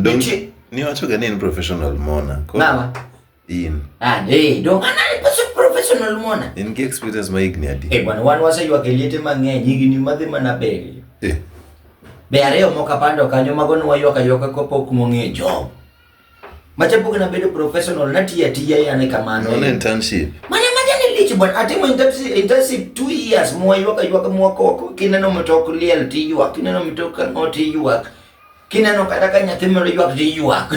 Don't- Nitie- ni wacho ga ni en professional mona Koro Mama. in Ah, eh, don't man I was a professional mona. in gi experience ma higni adi Eh, bwana wan waseyuak e liete mang'eny higni madhi mana beri. Eh, Be ariyo moko apando kanyo mago ne wayuak ayuaka kapok mong'e job. Machapok na bedo professional natiyo atiya yane kamano. non internship Mana maja ni lich bwana atimo internship internship 2 years mwayuaka yuaka mwakoko kineno mtok liel tiyuak kineno mtok ang'o tiyuak kineno kata ka nyathi moro ywak dhi ywak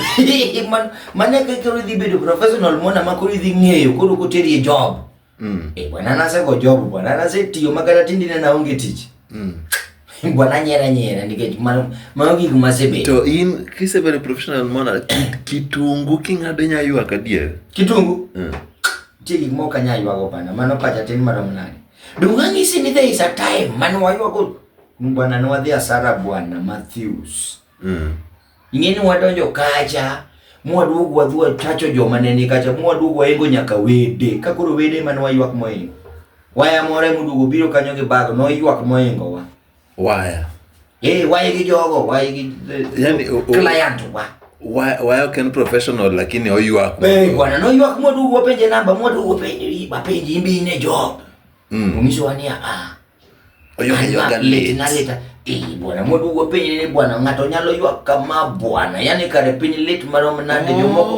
mane koro idhi bedo professional mona ma koro idhi ng'eyo koro koteri e job mm. e bwana nasego job bwana nasetiyo ma kata tindi ne naonge tich mm. bwana nyera nyera nikech mano gik masebedo to in kisebedo professional mona kitungu king'ado nya ywak adier kitungu mm. tie gik moko anya ywago bana mano pacha tin marom nade dung'ang'isi ni there is a time mane waywago Bwana nwadhi asara bwana Matthews. Mm. Ing'eni wadonjo kacha mwaduogo wadhua tacho joma ne ni kacha mwaduogo waengo nyaka wede ka koro wede mane waywak moingo waya more moduogo biro kanyo gi bago noywak moingo wa waya eh waya gi jogo waya gi yani client wa waya waya ken professional lakini oywak eh bwana no ywak moduogo penje namba moduogo penje bapenje imbi ne job mm. Umiso wania ah Naleta eh, bwana mwadugu wa piny ni bwana, ng'ato nyalo ywak kama bwana, yani kare piny lit marom nade oh, jomoko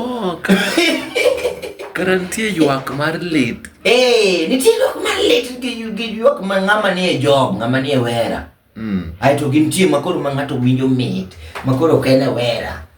kara nitie ywak mar lit eh, nitie ywak mar lit gi ywak ma ng'ama ni e job ng'ama ni e wera mm. aeto gi nitie makoro ma ng'ato winjo mit makoro ok en e wera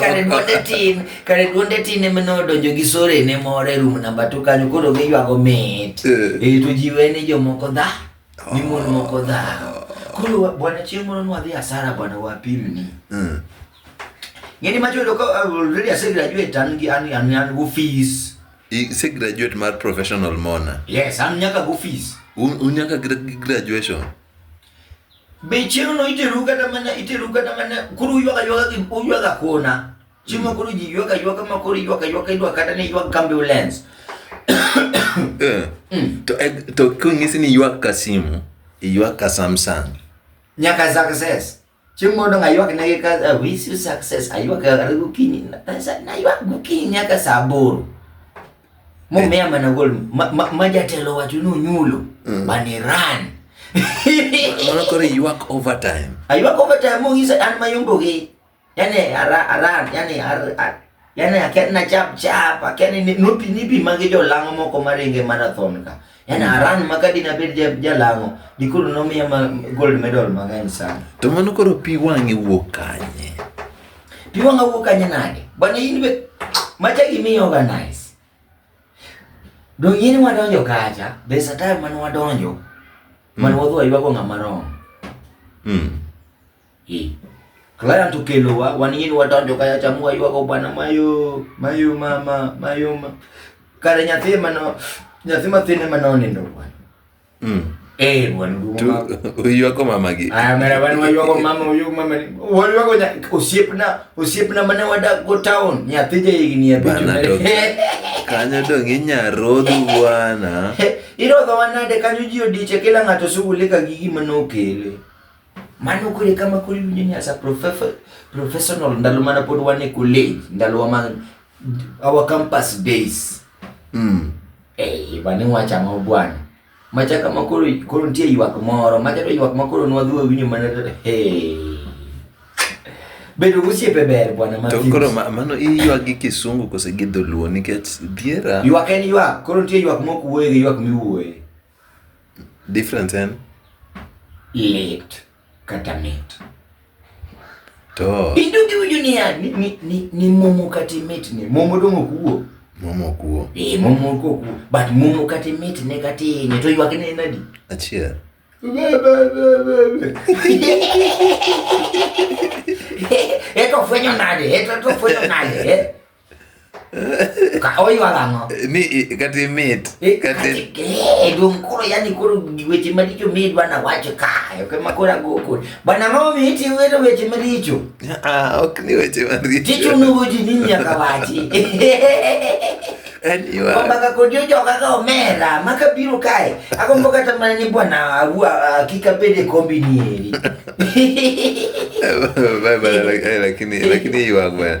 kare duonde tin kare duonde tin ema ne odonjo gi sore ne moro e room namba to kanyo koro giywago mit Eh. e to jiwe ni jomoko dha ni mon moko dha koro wa- bwana chieng' moro nwadhi asara bwana wapimni Mm. ng'eni macho yudo ka uh, already ase graduate an gi an an an go fees I- se graduate mar professional mona yes an nyaka go fees Un- unyaka gra- graduation Be chieng'no iteru kata mana iteru kata mana koro uywaga ywaga gi uywaga kona. Chieng' ma koro ji ywaga ywaga ma koro ywaga ywaga idwa kata ni ywag ambulance. Eh, to eh, to konyisi ni ywak ka simu iywak ka samsung Nyaka success. Chieng' mondo aywag ne gi ka I wish you success aywag gokinyi na- na- na aywag gokinyi nyaka saa aboro. Momea mana gol ma, ma, ma jatelo wacho ni onyulo mm. but he ran. Mano koro ywak overtime. Aywak overtime mo gisa an mayombo gi. Yani ara aran yani ar, ar yani aken na chap chap aken ni nupi nipi magi jo lango moko maringe marathon ka. Yaani mm. Aran makadi na bed jalango dikoro nomiya gold medal mang'eny sana. To mano koro pi wang'e wuok kanye? Pi wang'a wuok kanye nade? Bwana in be macha gimi organize. Dong in wadonjo kacha, be satire man wadonjo. Man mm. wadhi waywago ng'ama romo. Mm. Eh. Client ukelo wa wanini watonjo kaya chamua yuago bwana mayo mayo mama mayo ma. Kare nyathi mano nyathi mathine mano nindo bwana. Mm. Eh bwana duma. Uyuago mama gi. Ah mera bwana wayuago mama uyu mama. Wayuago nya osiepna osiepna mane wadak go town nyathi je igni ya bitu. Kanyo dong inya rodhu bwana. Irodho wanade kanyo ji odiche kila ng'ato sugulika gi gima nokele. Mano kore kama koro iwinjo ni as a professional ndalo mana pod wan e college, ndalo wa man our campus days. Mm. Eh, bane wacha ma bwana. Macha kama koro koro nitie ywak moro, macha to ywak ma koro nwadhi wawinjo mana hey. Bedo gosiepe ber bwana ma. To koro mano iywak gi kisungu kose gi dholuo nikech dhiera. Ywak en ywak, koro nitie ywak mok wuoye gi ywak miwuoye. Difference en? Lit kata mit. To. Idugi winjo niya, ni, ni, ni, ni momo kata mit ni. Momo dong' ok wuo. Momo ok wuo. Eh, momo ok wuo. But momo kata mit ne kata inye to ywak ne nadi? Achiel. Eto fwenyo nade? Eto fwenyo nade? Kaoi walango. Mi kati mit. Kati eh dum koro yani koro weche maricho mi bwana wacho kayo kama kora goko. Bwana mami iti wedo weche maricho. Ah, ok ni weche maricho. Ticho nugo ji nini akawachi. Ombaga kodio joga ga omera maka biro kae akombo kata mana ni bwana awua kika pede kombi ni eri. Bye bye lakini lakini yuagwa.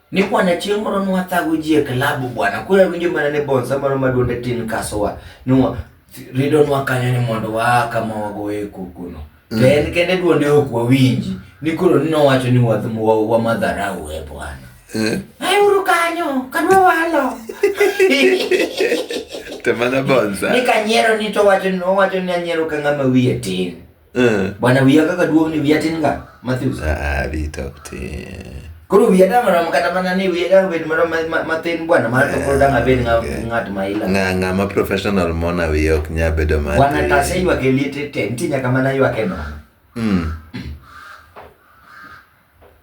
Ni bwana chieng' moro nwathago ji e klabu bwana, koro awinjo mana ni bonsa moro maduonde tin kasowa nwa ridonwa kanyo ni mondo waa kama wagoye kokono. To mm. en kende duonde ok wawinji ni koro ni nowacho ni wamadharau e bwana. Eh. Auru kanyo, kadwa walo. Te mana bonsa. Ni kanyiero ni to wacho ni owacho ni anyiero ka ng'ama wiye tin. Eh. Bwana wiya kaka duong ni wiya tin ga Matthews. Ah, bi to tin. Koro wiya da marom kata mana ni wiya da bed marom matin bwana mar to koro da ngabed eh, ngat ma ila. Nga nga ma professional mona wiya ok nya bedo ma. Bwana ta se ywa ke liete te nti nyaka mana ywa ke no. Mm.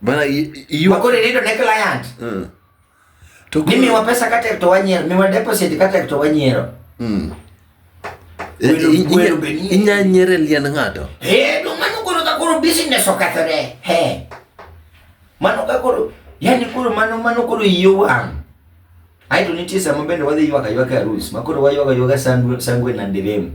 Bwana ywa. Koro ni to ne client. Mm. To Ni miwa pesa ka tek to wanyiero, miwa deposit ka tek to wanyiero. Mm. Welo- I- i- welo be nie. Inya nyiere liend ng'ato. Eh, no mano koro ka koro business okethore. He. Mano ka koro, yani koro mano mano koro iyo wang'. Aito nitie sama bende wadhi ywaka ywaka arus, ma koro waywaga ywaga sangwe sangwe na ndirem.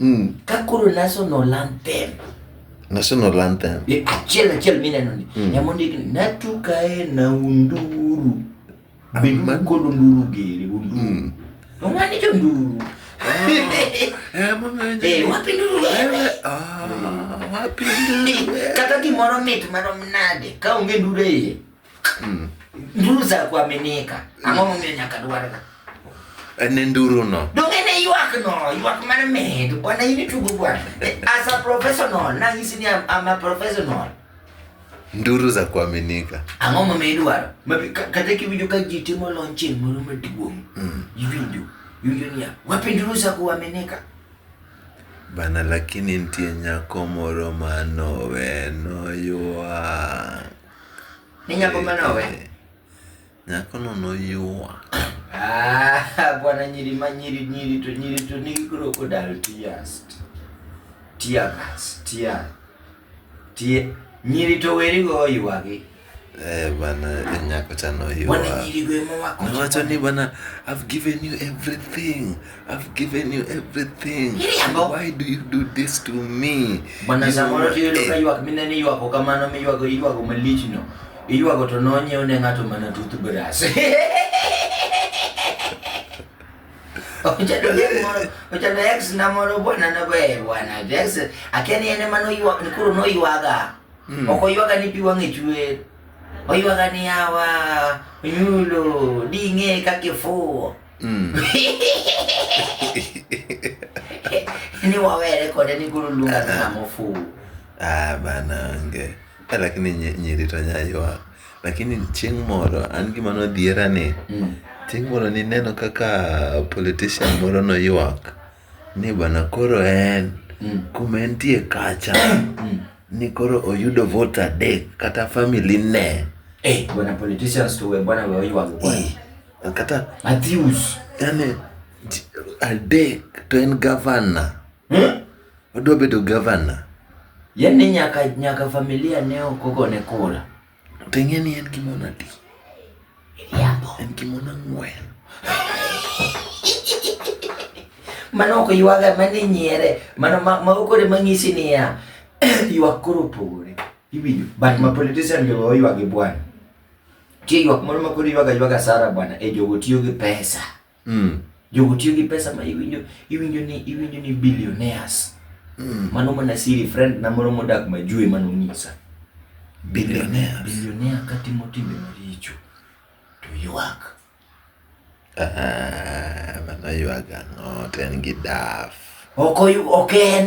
Mm. Ka koro national anthem. National anthem. E, achiel achiel mineno ni. Mm. Ema ondik ni natukae na unduru. Bima kod unduru gere unduru. Mm. Ong'ani jo nduru. Kata gimoro mit marom nade ka onge nduru e iye. Mm. Nduru za kuaminika. Ang'o momiyo nyaka dwarga? En e nduru no. Donge ne ywak no, ywak mar medo. Bwana in itugo bwana. Eh, as a professional, nang'isi ni I'm, I'm a professional. Nduru za kuaminika. Ang'o momiyo idwaro? Mabi- ka- Kata kiwinjo ka ji timo launching moro maduong', Mm. iwinjo iwinjo niya, wapi nduru za kuaminika? Bana lakini nitie nyako moro manowe noywa. Ni nyako mane owe? Nyakono noyuwa. Ah, bwana nyiri ma nyiri nyiri to nyiri to nigi crocodile tears. Tear gas, tear. Tear. Nyiri to weri go oywagi. Eh, bana eh, nyako cha noyuwa. Bwana nyiri go ema wako. Nowacho ni bana I've given you everything. I've given you everything. Kiriambo. Why do you do this to me? Bwana You- samoro tiyudo ka eh, ywak mineno iywago kamano miywago iywago malichno iywago to nonyiew ne ng'ato mana toothbrush Ochado ex moro- ochado ex na moro bwana na be bwana ex akia ni en ema noywa- ni koro noywaga ok oywaga ni pi wang'e chwer oywaga ni yawa onyulo ding'e kaka ifuwo Mm. ni wawere kode ni guru luonga ni ng'ama ofuwo Ah, bana onge. Eh, Lakini nyi- nyiri to nyaywa. Lakini chieng' moro an gima nodhiera ni Mm. chieng' moro nineno kaka politician moro noywak ni bana koro en Mm. kuma entie kacha Mm. ni koro oyudo vote adek kata family ne. Eh, bwana politicians to we bwana we oywago kwanza. kata Matthews yani ji- adek to en gavana hmm? odwa bedo gavana yani nyaka nyaka familia ne okogone kura to ing'e ni en gi mon adi Miriambo. en gi mon ang'wen mano ok ywaga mano inyiere mano ma- mago kore mang'isi niya ywak koro opogore iwinjo but ma politician jogo oywagi bwana Nitie ywak moro ma koro ywaga ywaga sara bwana, e jogo tiyo gi pesa. Mm. Jogo tiyo gi pesa ma iwinjo iwinjo ni iwinjo ni billionaires. Mm. Mano mana siri friend na moro modak Majue mano nyisa. Billionaires. Billionaire ka timo timbe maricho to ywak. Ah, mano ywaga ng'ot en gi daf. Ok oyu ok en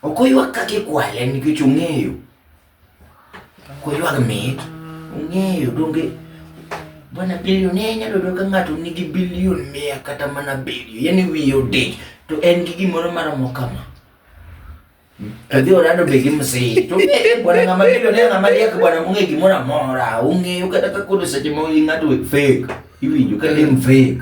Ok oywak kaka ikwale nikech ong'eyo. Ok oywak mit, ong'eyo donge bwana bilionea inyalo yudo ka ng'ato nigi bilion mia kata mana abiriyo, yaani wiye odich to en gi gimoro maromo kama. To dhi orado be gi msee. To ong'eyo bwana ng'ama bilionea ng'ama riek bwana mong'e gimoro amora, ong'eyo kata ka koro seche ma in ng'ato fake, iwinjo ka en fake.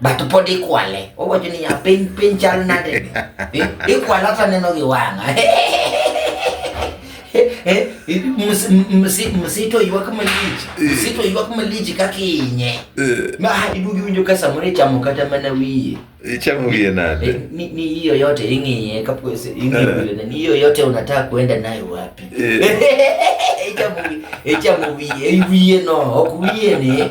but pod ikwale. Owacho ni ya piny piny chal nade? Eh, ikwale ata neno gi wang'a. Eh, eh, msito ywak malich, msito ywak malich kaka inye. Ma idugi winjo ka samoro ichamo kata mana wiye. Ichamo wiye nade? Ni ni hiyo yote ing'iye kapo ing'iye ni hiyo yote unataka kuenda nayo wapi? Ichamo wiye, ichamo wiye, wiye no, ok wiye ni.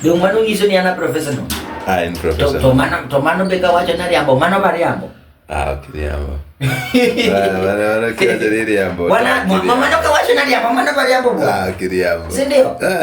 Ndio mwana unyiso ni ana profesa no. Ah, en profesa. To, to mano to mano be ka wacho na riambo, mano ba riambo. Ah, ok riambo. Wana wana wana kila jeri riambo. Wana mama no ka wacho na riambo, mano ba riambo. Ah, ok riambo. Si ndio? Ah.